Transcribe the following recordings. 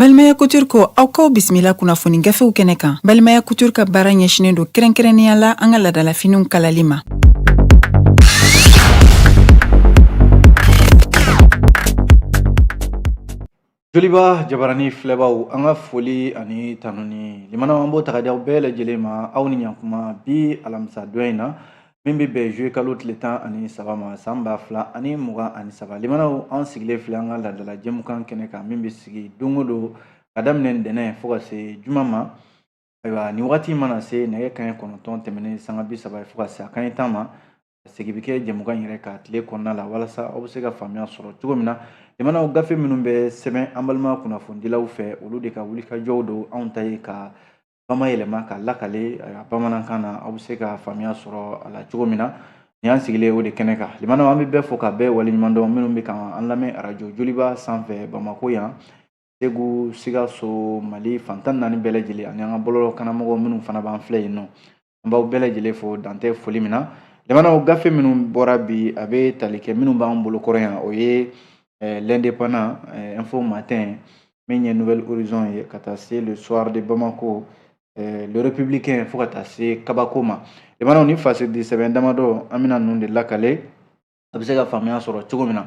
Balimaya Couture ko aw k'aw bisimila kunnafoni gafew kɛnɛ kan. Balimaya Couture ka baara ɲɛsinnen don kɛrɛnkɛrɛnnenya la an ka ladalafiniw kalali ma. Joliba jabarani filɛbaaw an ka foli ani tanuni lamɛnnaw an b'o ta ka di aw bɛɛ lajɛlen ma aw ni ɲankuma bi alamisa don in na min bɛ bɛn juillet kalo tile tan ani saba ma san ba fila ani mugan ani saba lamɛnnaw an sigilen filɛ an ka laadala jɛmukan kɛnɛ kan min bɛ sigi don o don ka daminɛ ntɛnɛn fo ka se juma ma ayiwa ni wagati mana se nɛgɛ kanɲɛ kɔnɔntɔn tɛmɛnen sanga bi saba fo ka se a kanɲɛ tan ma segin bɛ kɛ jɛmukan yɛrɛ kan tile kɔnɔna la walasa aw bɛ se ka faamuya sɔrɔ cogo min na lamɛnnaw gafe minnu bɛ sɛbɛn an balima kunnafonidilaw fɛ olu de ka wulikajɔw don anw ta ye ka bama yɛlɛma ka lakale a bamanankan na aw bɛ se ka faamuya sɔrɔ a la cogo min na ni an sigilen o de kɛnɛ kan lamɛnnaw an bɛ bɛɛ fo ka bɛɛ waleɲuman dɔn minnu bɛ ka an lamɛn arajo joliba sanfɛ bamako yan segu sikaso mali fan tan naani bɛɛ lajɛlen ani an ka bɔlɔlɔ kannamɔgɔw minnu fana b'an filɛ yen nɔ an b'aw bɛɛ lajɛlen fo dan tɛ foli min na lamɛnnaw gafe minnu bɔra bi a bɛ tali kɛ minnu b'an bolo kɔrɔ yan o ye eh, l'indépendant eh, info matin min ye nouvel horizon ye ka taa se le soir de bamako eh, le républicain fo ka taa se kabako ma lamɛnnaw ni fasidi sɛbɛn damadɔ an bɛna ninnu de lakale a bɛ se ka faamuya sɔrɔ cogo min na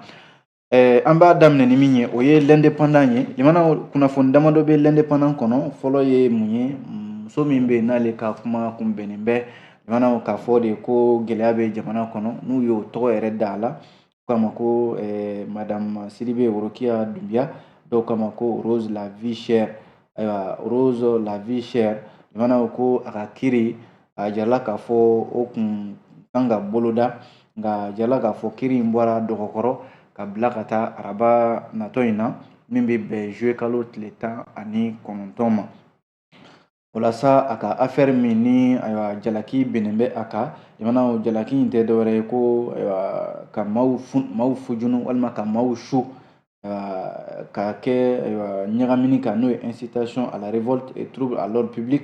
Ɛɛ an b'a daminɛ ni min ye o ye l'indépendant ye lamɛnnaw kunnafoni damadɔ bɛ l'indépendant kɔnɔ fɔlɔ ye mun ye muso min bɛ yen n'ale ka kuma kun bɛnnen bɛ lamɛnnaw k'a fɔ de ko gɛlɛya bɛ jamana kɔnɔ n'u y'o tɔgɔ yɛrɛ da a la k'a ma ko madamu sidibe worokiya dunbiya dɔw k'a ma ko rose la vie chère ayiwa rose la vie chère lamɛnnaw ko a ka kiri a jirala k'a fɔ o kun kan ka boloda nka a jirala k'a fɔ kiri in bɔra dɔgɔkɔrɔ ka bila ka taa araba natɔ in na min bɛ bɛn juillet kalo tile tan ani kɔnɔntɔn ma walasa a ka afɛri min ni ayiwa jalaki binnen bɛ a kan lamɛnnaw jalaki in tɛ dɔwɛrɛ ye ko ayiwa ka maaw fun maaw fujunu walima ka maaw su ka kɛ ɲagamini kan n'o ye incitation à la révolte et trouble à l'ordre public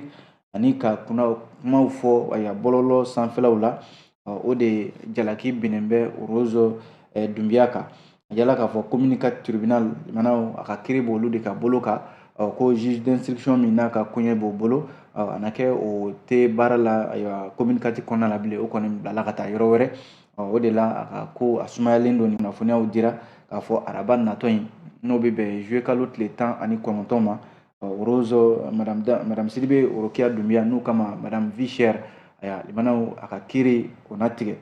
ani ka kuna kumaw fɔ bɔlɔlɔ sanfɛlaw la o de jalaki binnen bɛ rose dunbiya kan a yirala k'a fɔ commune quatre tribunal lamɛnnaw a ka kiri b'olu de ka bolo kan ko juge d'instruction min n'a ka koɲɛ b'o bolo a na kɛ o tɛ baara la ayiwa commune quatre kɔnɔna la bilen o kɔni bilala ka taa yɔrɔ wɛrɛ o de la a ka ko a sumayalen don nin kunnafoniyaw dira k'a fɔ araba natɔ in n'o bɛ bɛn juillet kalo tile tan ani kɔnɔntɔn ma rose madame sidibe worokiya dunbiya n'u k'a ma madame vie chère ayiwa lamɛnnaw a ka kiri o na tigɛ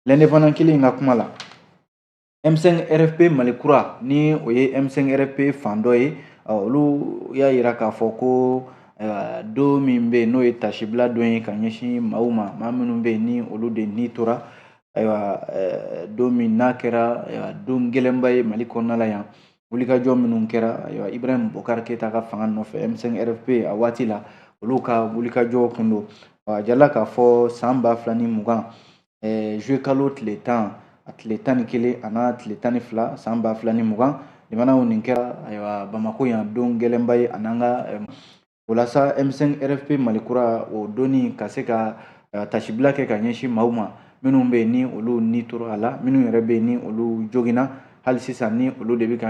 l'indépendant kelen in ka kuma la M5RFP Mali kura ni o ye M5RFP fan dɔ ye olu y'a yira k'a fɔ ko don min bɛ yen n'o ye tasibila don ye ka ɲɛsin maaw ma maa minnu bɛ yen ni olu de ni tora ayiwa don min n'a kɛra don gɛlɛnba ye Mali kɔnɔna la yan wulikajɔ minnu kɛra ayiwa Ibrahim Bokar Keyita ka fanga nɔfɛ M5RFP a waati la olu ka wulikajɔ kun don a jirala k'a fɔ san ba fila ni mugan ɛɛ juillet kalo tile tan a tile tan ni kelen a n'a tile tan ni fila san ba fila ni mugan limanaw nin kɛra ayiwa Bamako yan don gɛlɛnba ye a n'an ka walasa M5 RFP Mali kura o don in ka se ka tasibila kɛ ka ɲɛsin maaw ma minnu bɛ ni olu ni tora a la minnu yɛrɛ bɛ ni olu joginna hali sisan ni olu de bɛ ka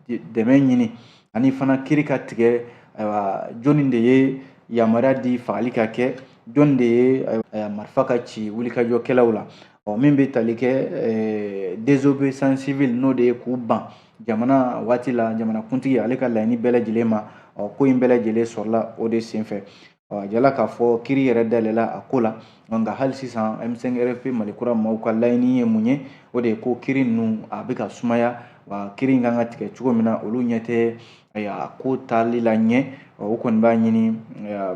dɛmɛ ɲini ani fana kiri ka tigɛ ayiwa jɔnni de ye yamaruya di fagali ka kɛ jɔn de ye eh, marifa ka ci wulikajɔkɛlaw la ɔ min bɛ tali kɛ eh, désobéissance civile n'o de ye k'u ban jamana waati la jamanakuntigi ale ka laɲini bɛɛ lajɛlen ma ɔ ko in bɛɛ lajɛlen sɔrɔla o de senfɛ a jirala k'a fɔ kiri yɛrɛ dayɛlɛla a ko la nka hali sisan M5 RFP Mali kura maaw ka laɲini ye mun ye o de ye ko kiri ninnu a bɛ ka sumaya wa kiri in kan ka tigɛ cogo min na olu ɲɛ tɛ a ko taali la ɲɛ o kɔni b'a ɲini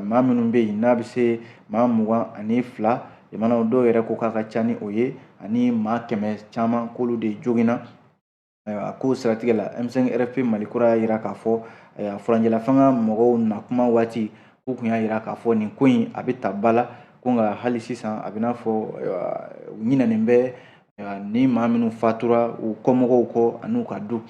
maa minnu bɛ yen n'a bɛ se maa mugan ani fila jamana dɔw yɛrɛ ko k'a ka ca ni o ye ani maa kɛmɛ caman k'olu de joginna a ko siratigɛ la M5 RFP Mali kura y'a jira k'a fɔ furancɛla fanga mɔgɔw na kuma waati k'u tun y'a jira k'a fɔ nin ko in a bɛ ta ba la ko nka hali sisan a bɛ n'a fɔ u ɲinɛnen bɛ ni maa minnu fatura u kɔmɔgɔw kɔ an'u ka du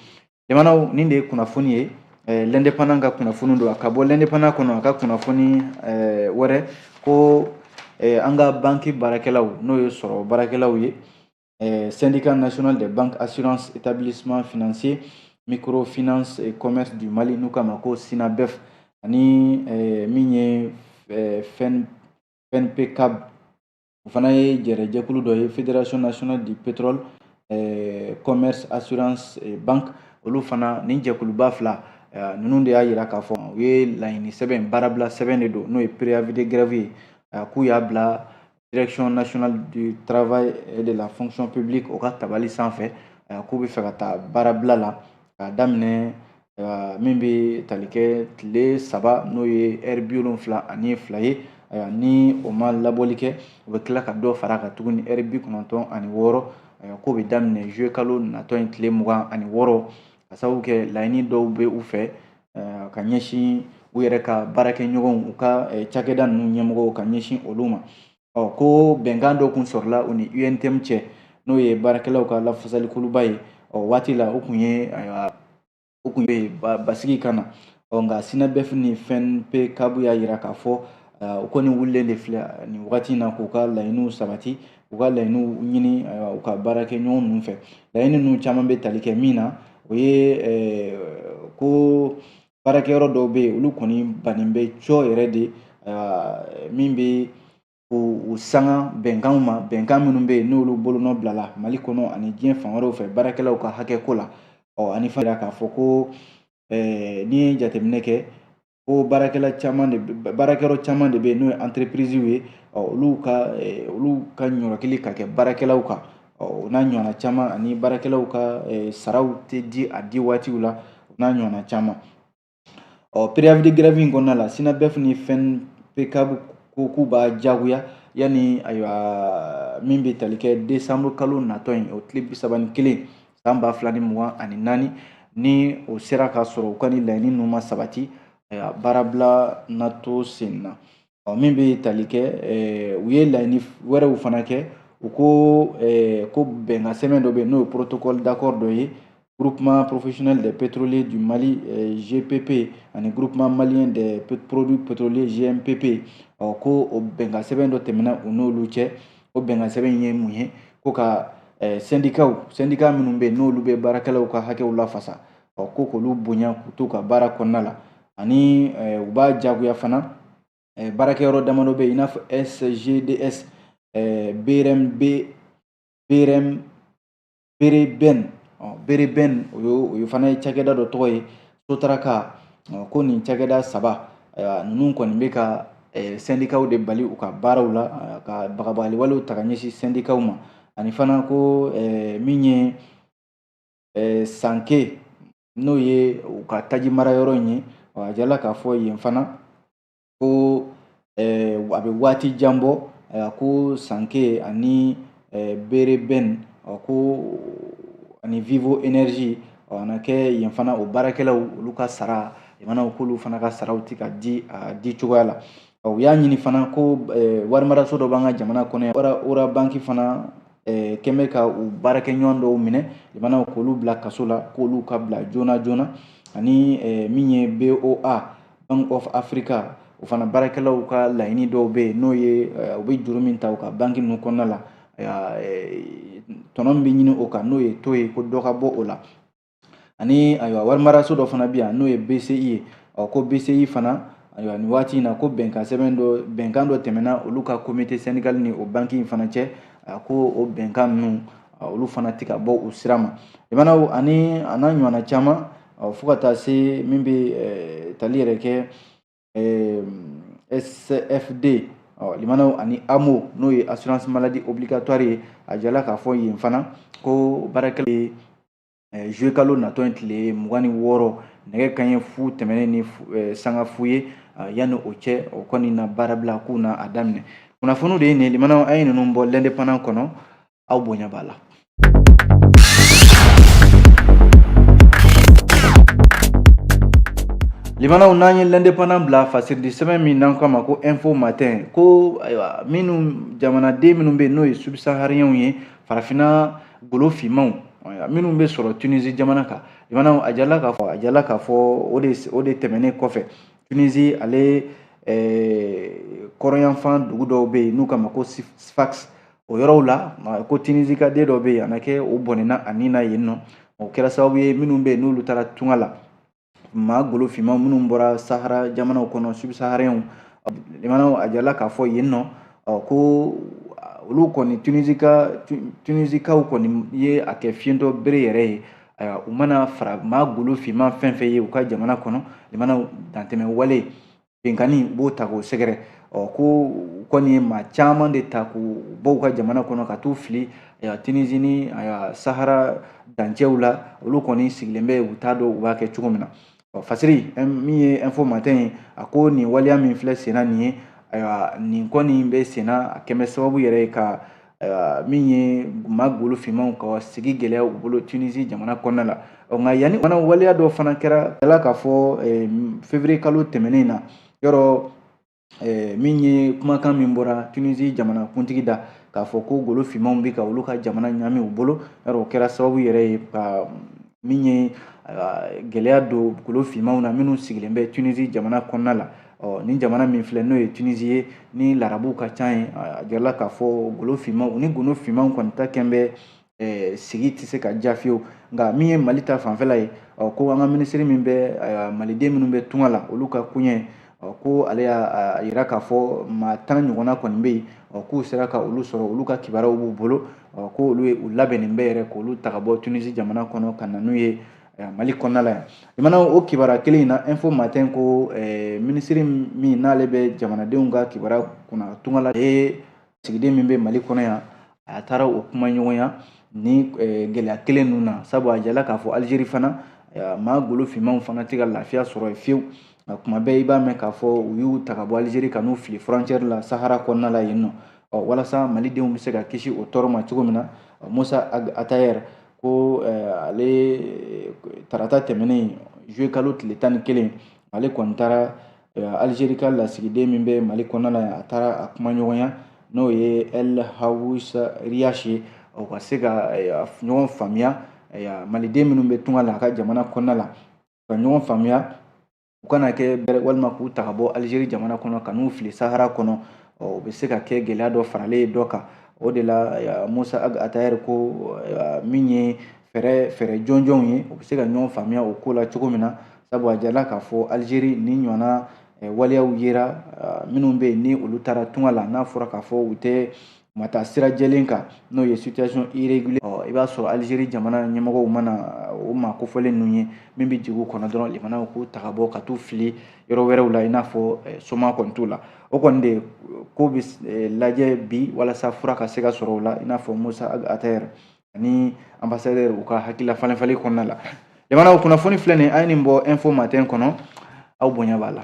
jamanaw nin de ye kunnafoni ye eh, l'Indépendant ka kunnafoni don a ka bɔ l'Indépendant kɔnɔ a ka kunnafoni eh, wɛrɛ ko eh, an ka banki baarakɛlaw n'o ye sɔrɔ baarakɛlaw ye eh, syndicat national des banques assurances établissements financiers microfinance et commerce du Mali n'u k'a ma ko SYNABEF ani eh, min ye eh, FENPECAB o fana ye jɛrɛjɛkulu dɔ ye fédération nationale du pétrole eh, commerce assurance et banque olu fana nin jɛkuluba fila eh, ninnu de y'a yira k'a fɔ u ye laɲini sɛbɛn baarabila sɛbɛn de don n'o ye préavis de grève ye k'u y'a bila direction nationale du travail et de la fonction publique o ka tabali sanfɛ k'u bɛ fɛ ka taa baarabila la k'a daminɛ ayiwa min bɛ tali kɛ tile saba n'o ye ɛri bi wolonfila ani fila ye ayiwa ni o ma labɔli kɛ o bɛ tila ka dɔ fara a kan tuguni ɛri bi kɔnɔntɔn ani wɔɔrɔ ayiwa k'o bɛ daminɛ juillet kalo natɔ in tile mugan ani wɔɔrɔ ka sababu kɛ laɲini dɔw bɛ u fɛ ka ɲɛsin u yɛrɛ ka baarakɛɲɔgɔnw u ka cakɛda ninnu ɲɛmɔgɔw ka ɲɛsin olu ma ɔ ko bɛnkan dɔ kun sɔrɔla u ni UNTM cɛ n'o ye baarakɛlaw ka lafasalikuluba ye ɔ waati la u kun ye ayiwa u kun ye basigi ka na ɔ nka SYNABEF ni FENPECAB y'a yira k'a fɔ u kɔni wulilen de filɛ nin wagati in na k'u ka laɲiniw sabati u ka laɲiniw ɲini ayiwa u ka baarakɛɲɔgɔn ninnu fɛ laɲini ninnu caman bɛ tali kɛ min na o ye ko baarakɛyɔrɔ dɔw bɛ yen olu kɔni bannen bɛ cɔ yɛrɛ de min bɛ u sanga bɛnkanw ma bɛnkan minnu bɛ yen n'olu bolonɔ bilala mali kɔnɔ ani diɲɛ fan wɛrɛw fɛ baarakɛlaw ka hakɛko la ɔ ani fana k'a fɔ ko n'i ye jateminɛ kɛ ko baarakɛla caman de baarakɛyɔrɔ caman de bɛ yen n'o ye anterepiriziw ye olu ka olu ka ɲɔrɔkili ka kɛ baarakɛlaw kan ɔ o n'a ɲɔgɔnna caman ani baarakɛlaw ka saraw tɛ di a di waatiw la o n'a ɲɔgɔnna caman ɔ préavis de grève in kɔnɔna la SYNABEF ni FENPECAB ko k'u b'a jagoya yanni ayiwa min bɛ tali kɛ décembre kalo natɔ in o tile bi saba ni kelen san ba fila ni mugan ani naani ni o sera ka sɔrɔ u ka nin laɲini ninnu ma sabati ayiwa baarabila na to sen na. ɔ min bɛ tali kɛ u ye laɲini wɛrɛw fana kɛ u ko ko bɛnkan sɛbɛn dɔ bɛ yen n'o ye protocole d'accord dɔ ye groupement professionnel des pétroliers du Mali GPP ani groupement malien des produits pétroliers GMPP ɔ ko o bɛnkan sɛbɛn dɔ tɛmɛna u n'olu cɛ o bɛnkan sɛbɛn in ye mun ye ko ka sɛndikaw sɛndika minnu bɛ yen n'olu bɛ baarakɛlaw ka hakɛw lafasa ɔ ko k'olu bonya k'u to ka baara kɔnɔna la ani eh, u b'a jagoya fana eh, baarakɛyɔrɔ damadɔ bɛ yen i n'a fɔ SGDS eh, brmb brm bereben bereben o ye o ye fana ye cakɛda dɔ tɔgɔ ye sotaraka ko nin cakɛda saba ayiwa ninnu kɔni bɛ ka sɛndikaw de bali u ka baaraw la ka bagabagali walew ta ka ɲɛsin sɛndikaw ma ani fana ko min ye sanke n'o ye u ka tajimarayɔrɔ in ye a jirala k'a fɔ yen fana ko eh, a bɛ waati jan bɔ eh, ko sanke ani eh, bereben ko ani vivo energy a na kɛ yen fana o baarakɛlaw olu ka sara jamanaw k'olu fana ka saraw tɛ ka di a di cogoya la U y'a ɲini fana ko warimaraso dɔ b'an ka jamana kɔnɔ Ora banki fana kɛmɛ ka u baarakɛɲɔgɔn dɔw minɛ jamana k'olu bila kaso la k'olu ka bila joona joona ani min ye BOA Bank of Africa o fana baarakɛlaw ka laɲini dɔw bɛ yen n'o ye u bɛ juru min ta u ka banki ninnu kɔnɔna la tɔnɔ min bɛ ɲini o kan n'o ye taux ye ko dɔ ka bɔ o la ani ayiwa warimaraso dɔ fana bɛ yan n'o ye bci ye ɔ ko bci fana ayiwa nin waati in na ko bɛnkan sɛbɛn dɔ bɛnkan dɔ tɛmɛna olu ka komite sɛndikali ni o banki in fana cɛ a ko o bɛnkan ninnu olu fana tɛ ka bɔ u sira ma limanaw ani a n'a ɲɔgɔnna caman fo ka taa se min bɛ tali yɛrɛ kɛ sfd limanaw ani amo n'o ye assurance maladie obligatoire ye a jala k'a fɔ yen fana ko baarakɛlaw ye zuwekalo natɔ ye tile mugan ni wɔɔrɔ nɛgɛ kanɲɛ fu tɛmɛnen ni sanga fu ye yanni o cɛ o kɔni na baarabila k'u na a daminɛ kunnafoniw de ye nin limanaw an ye ninnu bɔ lɛndepandan kɔnɔ aw bonya b'a la limanaw n'an ye lɛndepandan bila fasiridi sɛbɛn min n'an k'a ma ko info matin ko ayiwa minnu jamanaden minnu bɛ yen n'o ye subisahariɲɛw ye farafinna golo finmanw minnu bɛ sɔrɔ tunisi jamana kan limanaw a jala k'a fɔ a jala k'a fɔ o de o de tɛmɛnen kɔfɛ tunisi ale kɔrɔnyanfan dugu dɔw bɛ yen n'u k'a ma ko sfax o yɔrɔw la ko tunisika den dɔ bɛ yen a na kɛ o bɔnɛna a ni na yen nɔ o kɛra sababu ye minnu bɛ yen n'olu taara tunga la maa golo finman minnu bɔra sahara jamanaw kɔnɔ subsaharɛnw limanaw a jala k'a fɔ yen nɔ ko olu kɔni tunisika tunisikaw kɔni ye a kɛ fiɲɛtɔ bere yɛrɛ ye ayiwa u mana fara maa golo finman fɛn fɛn ye u ka jamana kɔnɔ limanaw dantɛmɛ wale Binkanni u b'o ta k'o sɛgɛrɛ ɔ ko u kɔni ye maa caman de ta k'u bɔ u ka jamana kɔnɔ ka t'u fili ayiwa Tunisie ni ayiwa Sahara dancɛw la olu kɔni sigilen bɛ u t'a dɔn u b'a kɛ cogo min na ɔ Fasiri min ye info matin ye a ko nin waleya min filɛ senna nin ye ayiwa nin kɔni bɛ senna a kɛlen bɛ sababu yɛrɛ ye ka ayiwa min ye maa golo finmanw ka sigi gɛlɛya u bolo tunisi jamana kɔnɔna la ɔ nka yanni fana waleya dɔ fana kɛra a jala k'a fɔ eh, fevrier kalo tɛmɛnen na yɔrɔ eh, min ye kumakan min bɔra tunisi jamana kuntigi da k'a fɔ ko golo finmanw bɛ ka olu ka jamana ɲami u bolo yɔrɔ o kɛra sababu yɛrɛ ye ka min ye gɛlɛya don golo finmanw na minnu sigilen bɛ tunisi jamana kɔnɔna la ɔ nin jamana min filɛ n'o ye tunisi ye ni larabuw ka ca ye a jirala k'a fɔ golo finmanw ni golo finmanw kɔni ta kɛn bɛ eh, sigi tɛ se ka diya fiyewu nka min ye mali ta fanfɛla ye ɔ ko an ka minisiri min bɛ eh, maliden minnu bɛ tunga la olu ka koɲɛ ɔ ko ale y'a yira k'a fɔ maa tan ɲɔgɔnna kɔni bɛ yen ɔ k'u sera ka olu sɔrɔ olu ka kibaruyaw b'u bolo ɔ ko olu ye u labɛnnen bɛ yɛrɛ k'olu ta ka bɔ tunisi jamana kɔnɔ ka na n'u ye mali kɔnɔna la yan limanaw o kibaruya kelen in na info matin ko eh, minisiri min n'ale bɛ jamanadenw ka kibaruya kunna tunga la lasigiden min bɛ mali kɔnɔ yan a taara o kuma ɲɔgɔnya ni eh, gɛlɛya kelen ninnu na sabu a jala k'a fɔ alizeri fana eh, maa golo finmanw fana tɛ ka lafiya sɔrɔ yen fiyewu nka kuma bɛɛ i b'a mɛn k'a fɔ u y'u ta ka bɔ alizeri ka n'u fili frontière la sahara kɔnɔna la yen nɔ walasa malidenw bɛ se ka kisi o tɔɔrɔ ma cogo min na mossa ag attaher ko ale tarata tɛmɛnen juillet kalo tile tan ni kelen ale kɔni taara alizeri ka lasigiden min bɛ mali kɔnɔna la a taara a kumaɲɔgɔnya n'o ye el haoues riache ye o ka se ka ɲɔgɔn faamuya maliden minnu bɛ tunga la a ka jamana kɔnɔna la ka ɲɔgɔn faamuya u kana kɛ bɛrɛ walima k'u ta ka bɔ alizeri jamana kɔnɔ ka n'u fili sahara kɔnɔ o bɛ se ka kɛ gɛlɛya dɔ faralen ye dɔ kan o de la mossa ag attaher ko min ye eh fɛɛrɛ jɔnjɔnw ye u bɛ se ka ɲɔgɔn faamuya o ko la cogo min na sabu a jala k'a fɔ alizeri ni ɲɔgɔnna waleyaw yera minnu bɛ yen ni olu taara tunga la n'a fɔra k'a fɔ u tɛ U ma taa sira jɛlen kan n'o ye situation irrégulière ɔ i b'a sɔrɔ Algérie jamana ɲɛmɔgɔw mana o maa kofɔlen ninnu ye min bɛ jigin u kɔnɔ dɔrɔn limanaw k'u ta ka bɔ ka t'u fili yɔrɔ wɛrɛw la i n'a fɔ eh, soma kɔni t'u la o kɔni de ko bɛ eh, lajɛ bi walasa fura ka se ka sɔrɔ o la i n'a fɔ Mossa Ag Attaher ani ambassadeur u ka hakilila falen falen kɔnɔna la limanaw kunnafoni filɛ nin an ye nin bɔ info matin kɔnɔ aw bonya b'a la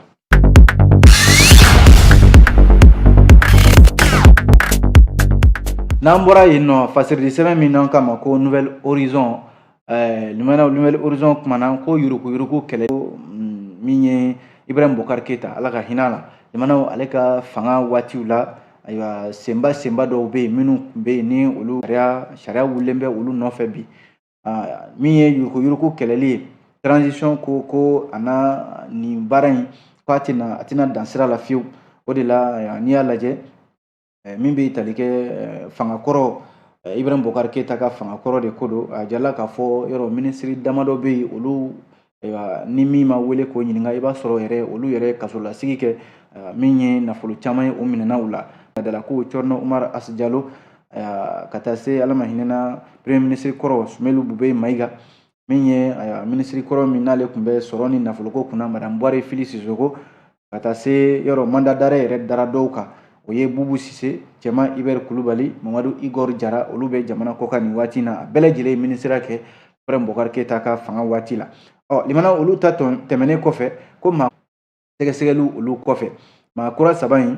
n'an bɔra yen nɔ fasirili sɛbɛn min n'an k'a ma ko nouvel horizon eh, limanaw nouvel horizon kumana ko yuruku yuruku kɛlɛ mm, min ye ibrahim bokar keyita ala ka hinɛ a la limanaw ale ka fanga waatiw la ayiwa senba senba dɔw bɛ yen minnu tun bɛ yen ni olu sariya wulilen bɛ olu nɔfɛ bi min ye yuruku yuruku kɛlɛli ye transition ko a na nin baara in k'a tɛna dan sira la fiyewu o de la n'i y'a lajɛ min bɛ tali kɛ fanga kɔrɔ Ibrahim Bokar Keita ka fanga kɔrɔ de ko don a jala k'a fɔ yɔrɔ minisiri damadɔ bɛ yen olu ayiwa ni min ma wele k'o ɲininka i b'a sɔrɔ yɛrɛ olu yɛrɛ ye kasolasigi kɛ min ye nafolo caman ye o minɛna u la dala ko cɛrno umar hass jalo ka taa se ala ma hinɛna premier minisiri kɔrɔ sumelu bube mayiga min ye minisiri kɔrɔ min n'ale tun bɛ sɔrɔ ni nafoloko kunna madame buware fili sisoko ka taa se yɔrɔ mandat d'arrêt yɛrɛ dara dɔw kan o ye bubu sise cɛman ibɛri kulubali mamadu igor jara olu bɛ jamana kɔkan nin waati na a bɛɛ lajɛlen ye minisiriya kɛ ibrahim bokar keyita ka fanga waati la ɔ limanaw olu ta tɛmɛnen kɔfɛ ko ma sɛgɛsɛgɛliw olu kɔfɛ maa kura saba in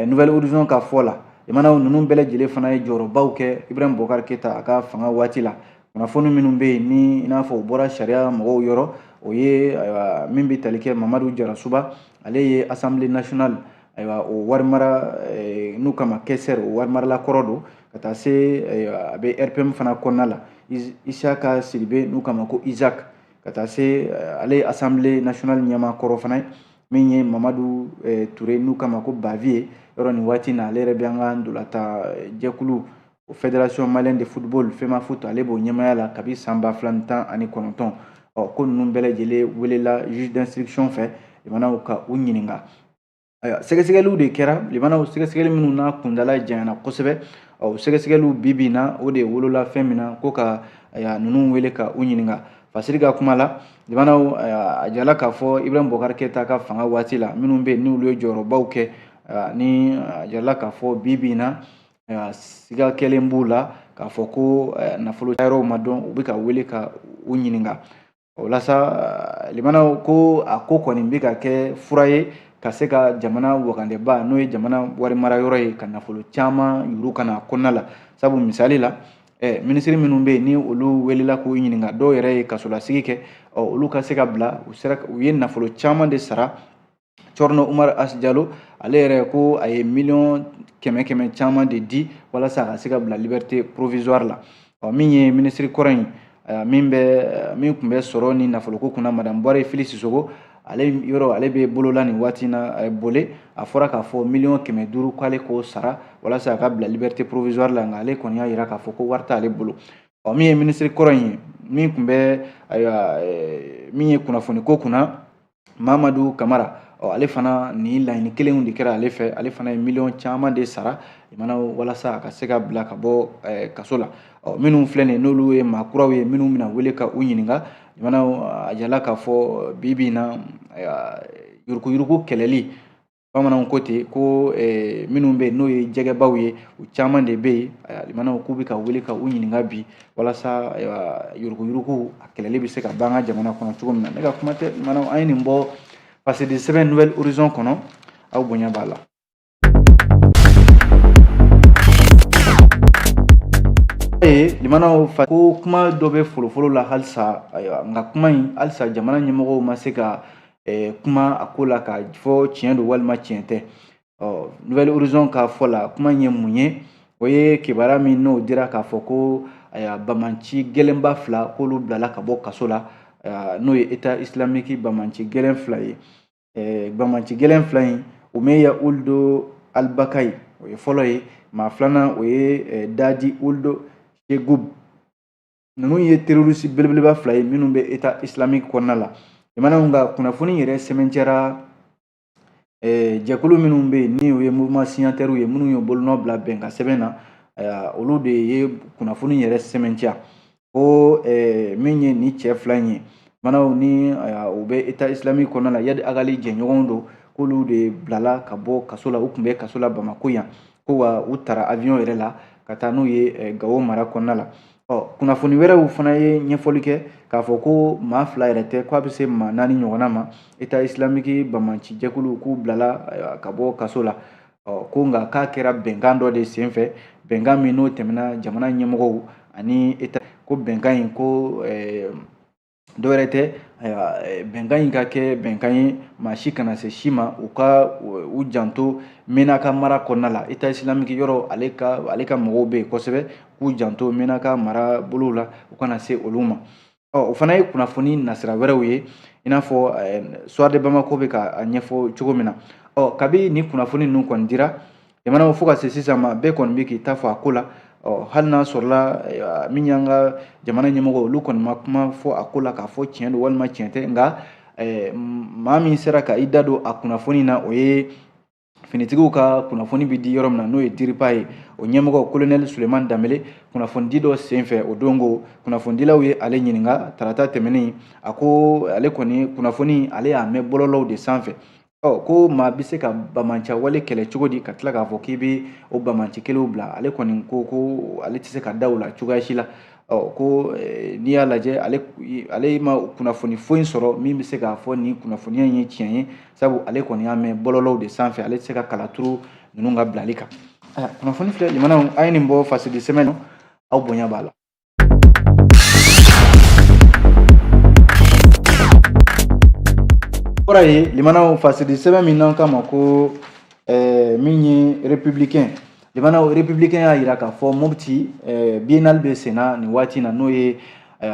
nouvelle horizon ka fɔ la limanaw ninnu bɛɛ lajɛlen fana ye jɔyɔrɔbaw kɛ ibrahim boubacar keita a ka fanga waati la kunnafoni minnu bɛ yen ni i n'a fɔ u bɔra sariya mɔgɔw yɔrɔ o ye ayiwa min bɛ tali kɛ mamadu jarasuba ale ye assemblée nationale ayiwa o warimara n'u k'a ma questeur o warimarala kɔrɔ don ka taa se a bɛ rpm fana kɔnɔna la isaka sidibe n'u k'a ma ko isaac ka taa se ale ye assemblée nationale ɲɛmaa kɔrɔ fana ye min ye mamadu eh, ture n'u k'a ma ko bavieux yɔrɔ nin waati na ale yɛrɛ bɛ an ka ntolatan eh, jɛkulu fédération malienne de football femafoot ale b'o ɲɛmaaya la kabi san ba fila ni tan ani kɔnɔntɔn ɔ ko ninnu bɛɛ lajɛlen welela juge d'instruction fɛ limanaw ka u ɲininka ayiwa sɛgɛsɛgɛliw de kɛra limanaw sɛgɛsɛgɛli minnu n'a kuntaala janyana kosɛbɛ ɔ sɛgɛsɛgɛliw bi bi in na o de wolola fɛn min na ko ka ninnu wele ka u ɲininka fasiri ka kuma la limanaw a jirala k'a fɔ ibrahim boubacar keita ka fanga waati la minnu bɛ yen n'olu ye jɔyɔrɔbaw kɛ ni a jirala k'a fɔ bi bi in na siga kɛlen b'u la k'a fɔ ko nafolo yɔrɔw ma dɔn u bɛ ka wele ka u ɲininka o la sa limanaw ko a ko kɔni bɛ ka kɛ fura ye ka se ka jamana wagandeba n'o ye jamana wari mara yɔrɔ ye ka nafolo caman yuuru ka na kɔnɔna la sabu misali la minisiri minnu bɛ yen ni olu welela k'u ɲininka dɔw yɛrɛ ye kasolasigi kɛ ɔ olu ka se ka bila u sera u ye nafolo caman de sara cɛrinɔ umar asi jalo ale yɛrɛ ko a ye miliyɔn kɛmɛ kɛmɛ caman de di walasa a ka se ka bila liberté provisoire la ɔ min ye minisiri kɔrɔ in min bɛ min tun bɛ sɔrɔ ni nafoloko kunna madame buware fili sisoko ale yɛrɛ ale bɛ bolo la nin waati in na ayiwa bole a fɔra k'a fɔ miliyɔn kɛmɛ duuru k'ale k'o sara walasa a ka bila liberté provisoire la nka ale kɔni y'a jira k'a fɔ ko wari t'ale bolo ɔ min ye minisiri kɔrɔ in ye min tun bɛ ayiwa min ye kunnafoni ko kunna mamadu kamara ɔ ale fana nin laɲini kelenw de kɛra ale fɛ ale fana ye miliyɔn caman de sara limanaw walasa a ka se ka bila ka bɔ kaso la ɔ minnu filɛ nin ye n'olu ye maa kuraw ye minnu bɛna wele ka u ɲininka limanaw a jirala k'a fɔ bi bi in na yuruguyurugu kɛlɛli bamananw ko ten ko eh, minnu bɛ yen n'o ye jɛgɛbaw ye u caman de bɛ yen limanaw k'u bɛ ka wele ka u ɲininka bi walasa yuruguyurugu a kɛlɛli bɛ se ka ban an ka jamana kɔnɔ cogo min na ne ka kuma tɛ limanaw an ye nin bɔ pasidi sɛbɛn nouvelle horizon kɔnɔ aw bonya b'a la ye limanaw fa ko kuma dɔ bɛ folofolo la halisa ayiwa nka kuma in halisa jamana ɲɛmɔgɔw ma se ka eh, kuma a ko la k'a fɔ tiɲɛ don walima tiɲɛ tɛ ɔ nouvelle horizon ka fɔ la kuma in ye mun ye o ye kibaruya min n'o dira k'a fɔ ko ayiwa banbaanci gɛlɛnba fila k'olu bilala ka bɔ kaso la n'o ye état islamique banbaanci gɛlɛn fila ye bamanci gɛlɛn fila in umeya uldu alibakayi o ye fɔlɔ ye maa filanan o ye dadi uldu segub ninnu ye terorisi belebeleba fila ye minnu bɛ état islamique kɔnɔna la limanaw ka kunnafoni yɛrɛ sɛmɛntiyara jɛkulu minnu bɛ yen ni o ye mouvement signataires ye minnu ye bolonɔ bila bɛnkan sɛbɛn na olu de ye kunnafoni yɛrɛ sɛmɛntiya ko min ye nin cɛ fila in ye limanaw ni u bɛ eta isilamiki kɔnɔna la yadi agali jɛɲɔgɔnw don k'olu de bilala ka bɔ kaso la u tun bɛ kaso la bamako yan ko wa u taara avion yɛrɛ la ka taa n'u ye gawo mara kɔnɔna la ɔ kunnafoni wɛrɛw fana ye ɲɛfɔli kɛ k'a fɔ ko maa fila yɛrɛ tɛ ko a bɛ se maa naani ɲɔgɔnna ma eta isilamiki bamanci jɛkulu k'u bilala ka bɔ kaso la ɔ ko nka k'a kɛra bɛnkan dɔ de senfɛ bɛnkan min n'o tɛmɛna jamana ɲɛmɔgɔw ani eta ko bɛnkan in ko eh, dɔ wɛrɛ tɛ eh, bɛnkan in ka kɛ bɛnkan ye maa si kana se si ma u ka u janto menaka mara kɔnɔna la eta isilamiki yɔrɔ ale ka ale ka mɔgɔw bɛ yen kosɛbɛ k'u janto menaka marabolow la u kana se olu ma Ɔ o fana ye kunnafoni nasira wɛrɛw ye i n'a fɔ soir de bamako bɛ ka a ɲɛfɔ cogo min na ɔ kabini kunnafoni ninnu kɔni dira jamana fo ka se sisan ma bɛɛ kɔni bɛ k'i ta fɔ a ko la ɔ hali n'a sɔrɔla min y'an ka jamana ɲɛmɔgɔ olu kɔni ma kuma fɔ a ko la k'a fɔ tiɲɛ don walima tiɲɛ tɛ nka maa min sera ka i da don a kunnafoni na o ye finitigiw ka kunnafoni bɛ di yɔrɔ min na n'o ye diripa ye o ɲɛmɔgɔ kolonɛli suleman danbele kunnafonidi dɔ senfɛ o don ko kunnafonidilaw ye ale ɲininka tarata tɛmɛnen a ko ale kɔni kunnafoni ale y'a mɛn bɔlɔlɔw de sanfɛ ɔ ko maa bɛ se ka bamanca wale kɛlɛ cogo di ka tila k'a fɔ k'i bɛ o bamanci kelenw bila ale kɔni ko ko ale tɛ se ka da o la cogoya si la ɔ ko n'i y'a lajɛ ale ale ma kunnafoni foyi sɔrɔ min bɛ se k'a fɔ nin kunnafoniya in ye tiɲɛ ye sabu ale kɔni y'a mɛn bɔlɔlɔw de sanfɛ ale tɛ se ka kala turu ninnu ka bilali kan kunnafoni filɛ limanaw a ye nin bɔ fasidi sɛbɛn na aw bonya b'a la kɔrɔ ye limanaw fasidi sɛbɛn min n'an k'a ma ko min ye républicain Limanaw républicain y'a jira k'a fɔ moti biennale bɛ senna nin waati in na n'o ye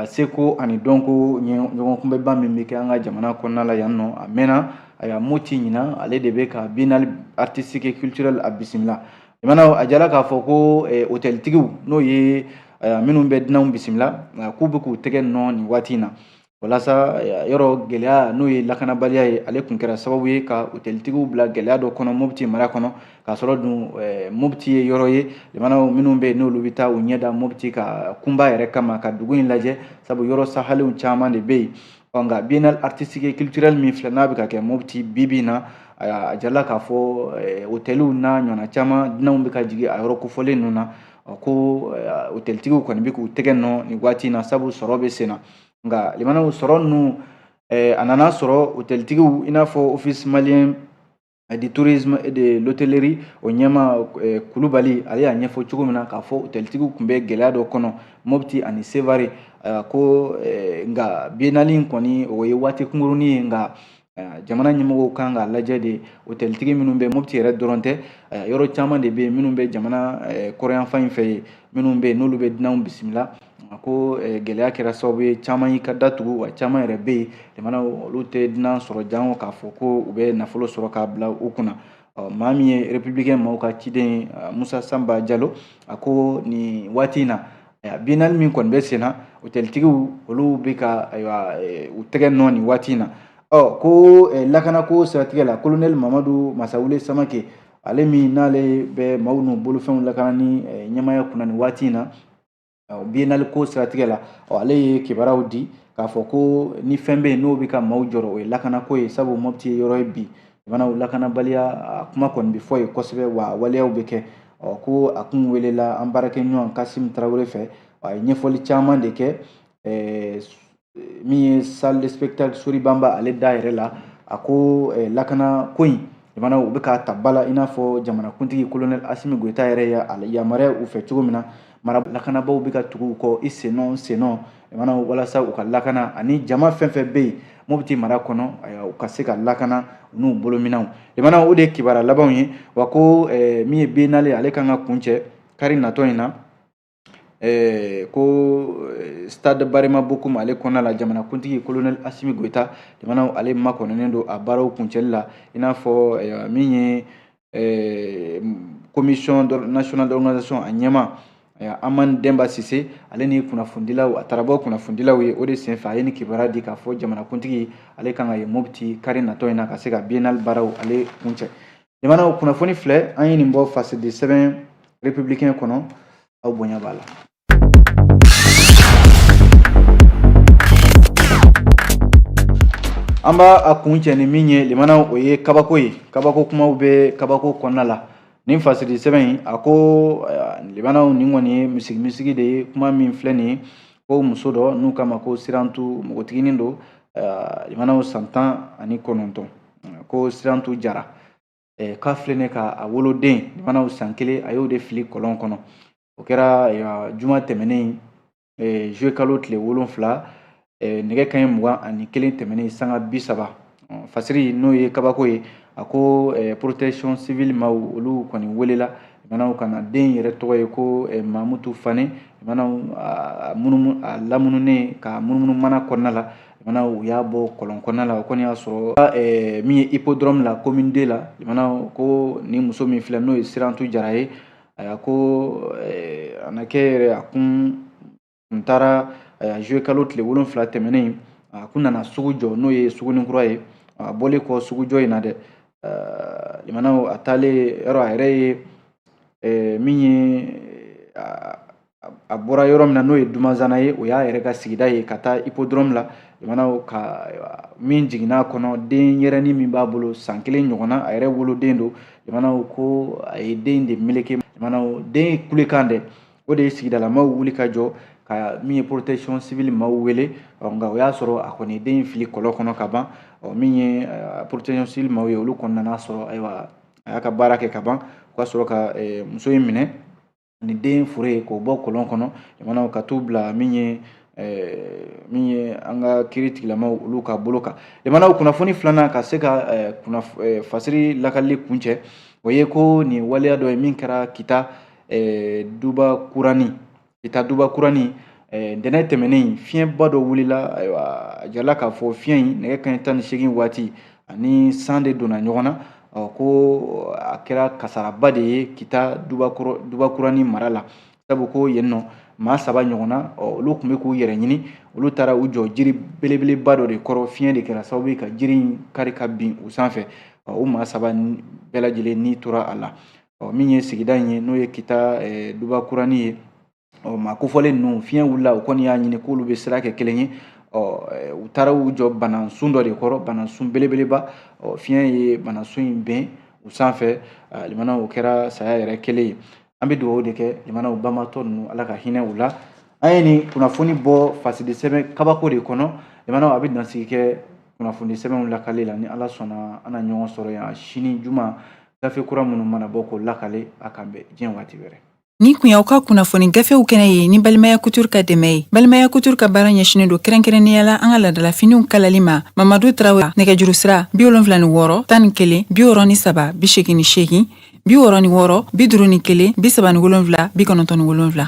seko ani dɔnko ɲɔgɔnkunbɛnba min bɛ kɛ an ka jamana kɔnɔna la yan nɔ a mɛnna a y'a moti ɲinan ale de bɛ ka biennale artistique et culturelle a bisimila limana a jala k'a fɔ ko otɛlitigiw n'o ye minnu bɛ dunanw bisimila k'u bɛ k'u tɛgɛ nɔ nin waati in na walasa yɔrɔ gɛlɛya n'o ye lakanabaliya ye ale tun kɛra sababu ye ka otelitigiw bila gɛlɛya dɔ kɔnɔ mopti mara kɔnɔ k'a sɔrɔ dun mopti ye yɔrɔ ye jamanaw minnu bɛ yen n'olu bɛ taa u ɲɛda mopti ka kunba yɛrɛ kama ka dugu in lajɛ sabu yɔrɔ sahalenw caman de bɛ yen ɔ nka biennale artistique et culturelle min filɛ n'a bɛ ka kɛ mopti bibi in na a jirala k'a fɔ otɛliw n'a ɲɔgɔnna caman dunanw bɛ ka jigin a yɔrɔ kofɔlen ninnu na ko otɛlitigiw kɔni bɛ k'u tɛgɛ nɔ nin waati in na sabu sɔrɔ bɛ sen na nka limanaw sɔrɔ ninnu eh, a nana sɔrɔ hotelitigiw i n'a fɔ office malien eh, de tourisme et de l'hôtellerie o ɲɛmaa eh, kulubali ale y'a ɲɛfɔ cogo min na k'a fɔ hotelitigiw tun bɛ gɛlɛya dɔ kɔnɔ mopti ani sevare ko nka biennale in kɔni o ye waati kunkurunin ye nka jamana ɲɛmɔgɔw kan k'a lajɛ de hôteltigi minnu bɛ mopti yɛrɛ dɔrɔn tɛ yɔrɔ caman de bɛ yen minnu bɛ jamana kɔrɔnyanfan in fɛ yen minnu bɛ yen n'olu bɛ dunanw bisimila ko gɛlɛya kɛra sababu ye caman y'i ka datugu wa caman yɛrɛ bɛ yen jamana olu tɛ dunan sɔrɔ jan k'a fɔ ko u bɛ nafolo sɔrɔ k'a bila u kunna maa min ye républicain maaw ka ciden ye Musa Sanba Jalo a ko nin waati in na biennale min kɔni bɛ sen na otɛlitigiw olu bɛ ka ayiwa eh, u tɛgɛ nɔ nin waati in na ɔ ko eh, lakanako siratigɛ la kolonɛli mamadu masawule samake ale min n'ale bɛ maaw n'u bolofɛnw lakanani eh, ɲɛmaaya kunna nin waati in na biennale ko siratigɛ la ɔ ale ye kibaruyaw di k'a fɔ ko ni fɛn bɛ yen n'o bɛ ka maaw jɔrɔ o ye lakanako ye sabu mopti ye yɔrɔ ye bi jamanaw lakanabaliya a kuma kɔni bɛ fɔ yen kosɛbɛ wa waleyaw bɛ kɛ ɔ ko a tun welela an baarakɛɲɔgɔn kasimi tarawele fɛ a ye ɲɛfɔli caman de kɛ eh, min ye salle de spectacle sori banba ale da yɛrɛ la a ko eh, lakanako in jamana u bɛ k'a ta ba la i n'a fɔ jamanakuntigi kolonɛli asimi goyita yɛrɛ y'a yamaruya u fɛ cogo min na mara lakanabaaw bɛ ka tugu u kɔ i sennɔ sennɔ mana walasa u ka lakana ani jama fɛn fɛn bɛ yen mopti mara kɔnɔ u ka se ka lakana u n'u bolominɛnw limana o de ye kibaruya labanw ye wa ko eh, min ye biennale ale kan ka kuncɛ kari natɔ in na eh, ko eh, stade barema bokum ale kɔnɔna la jamanakuntigi colonel asimi goyita limana ale makɔnɔnen don a baaraw kuncɛli la i n'a fɔ min ye commission nationale d'organisation a ɲɛmaa Haman Demba Sise ale ni kunnafonidilaw a taara bɔ kunnafonidilaw ye o de senfɛ a ye nin kibaruya di k'a fɔ jamanakuntigi ale kan ka ye Mopti kari natɔ in na ka se ka biennale baaraw ale kuncɛ jamanaw kunnafoni filɛ an ye nin bɔ fasidisɛbɛn républicain kɔnɔ aw bonya b'a la An b'a kuncɛ ni min ye limanaw o ye kabako ye kabako kumaw bɛ kabako kɔnɔna la nin fasiri sɛbɛn in a ko limanaw nin kɔni ye misigi misigi de ye kuma min filɛ nin ye ko muso dɔ n'u k'a ma ko sirantu npogotiginin don limanaw san tan ani kɔnɔntɔn ko sirantu jara k'a filɛ ka a woloden mana san kelen a y'o de fili kɔlɔn kɔnɔ o kɛra juma tɛmɛnen juillet kalo tile wolonfila nɛgɛ kanɲɛ mugan ani kelen tɛmɛnen sanga bi saba fasiri n'o ye kabako ye a ko protection civile maaw olu kɔni welela manaw ka na den yɛrɛ tɔgɔ ye ko mamutu fane manaw a lamununen ka munumunu mana kɔnɔna la Mana u y'a bɔ kɔlɔn kɔnɔna la o kɔni y'a sɔrɔ ɛɛ min ye ipodɔrɔmu la commune deux la mana ko ni muso min filɛ n'o ye sirantu jara ye a ko a na kɛ yɛrɛ a kun taara juillet kalo tile wolonfila tɛmɛnen a kun nana sugu jɔ n'o ye sugunin kura ye a bɔlen kɔ sugujɔ in na dɛ a taalen yɔrɔ a yɛrɛ ye min ye a bɔra yɔrɔ min na n'o ye dumanzana ye o y'a yɛrɛ ka sigida ye ka taa ipodɔrɔmu la jamanaw ka min jiginna kɔnɔ den yɛrɛni min b'a bolo san kelen ɲɔgɔnna a yɛrɛ woloden don jamanaw ko a ye den de meleke jamanaw den in kulekan dɛ o de ye sigidalamaw wuli ka jɔ ka min ye protection civile maaw wele nka o y'a sɔrɔ a kɔni den in fili kɔlɔn kɔnɔ ka ban min ye protection civile maaw ye olu kɔni nana sɔrɔ ayiwa a y'a ka baara kɛ ka ban o ka sɔrɔ ka muso in minɛ ni den fure ye k'o bɔ kɔlɔn kɔnɔ jamanaw ka t'u bila min ye min ye an ka kiiri tigilamaw olu ka bolo kan jamanaw kunnafoni filanan ka se ka fasiri lakalili kuncɛ o ye ko nin waleya dɔ ye min kɛra kita duba kurani kita duba kurani ntɛnɛn tɛmɛnen fiɲɛba dɔ wulila ayiwa a jirala k'a fɔ fiɲɛ in nɛgɛ kanɲɛ tan ni seegin waati ani san de donna ɲɔgɔn na ko a kɛra kasaraba de ye kita dubakuranin mara la sabu ko yen nɔ maa saba ɲɔgɔnna olu tun bɛ k'u yɛrɛ ɲini olu taara u jɔ jiri belebeleba dɔ de kɔrɔ fiɲɛ de kɛra sababu ye ka jiri in kari ka bin u sanfɛ o maa saba bɛɛ lajɛlen ni tora a la min ye sigida in ye n'o ye kita dubakuranin ye ɔ maa kofɔlen ninnu fiɲɛ wulila u kɔni y'a ɲini k'olu bɛ sira kɛ kelen ye ɔ u taara u jɔ banasun dɔ de kɔrɔ banasun belebeleba ɔ fiɲɛ ye banasun in bin u sanfɛ limana o kɛra saya yɛrɛ kelen ye an bɛ dugawu de kɛ limanaw banbaatɔ ninnu ala ka hinɛ u la an ye nin kunnafoni bɔ fasiri sɛbɛn kabako de kɔnɔ limanaw an bɛ dansigi kɛ kunnafoni sɛbɛnw lakale la ni ala sɔnna an na ɲɔgɔn sɔrɔ yan sini juma gafe kura minnu mana bɔ k'o lakale a k'an bɛn diɲɛ waati wɛrɛ Nin tun y'aw ka kunnafoni gafew kɛnɛ ye ni balimaya couture ka dɛmɛ ye balimaya couture ka baara ɲɛsinnen don kɛrɛnkɛrɛnnenya la an ka laadalafiniw kalali ma mamadu tarawele nɛgɛjuru sira bi wolonwula ni wɔɔrɔ tan ni kelen bi wɔɔrɔ ni saba bi seegin ni seegin bi wɔɔrɔ ni wɔɔrɔ bi duuru ni kelen bi saba ni wolonwula bi kɔnɔntɔn ni wolonwula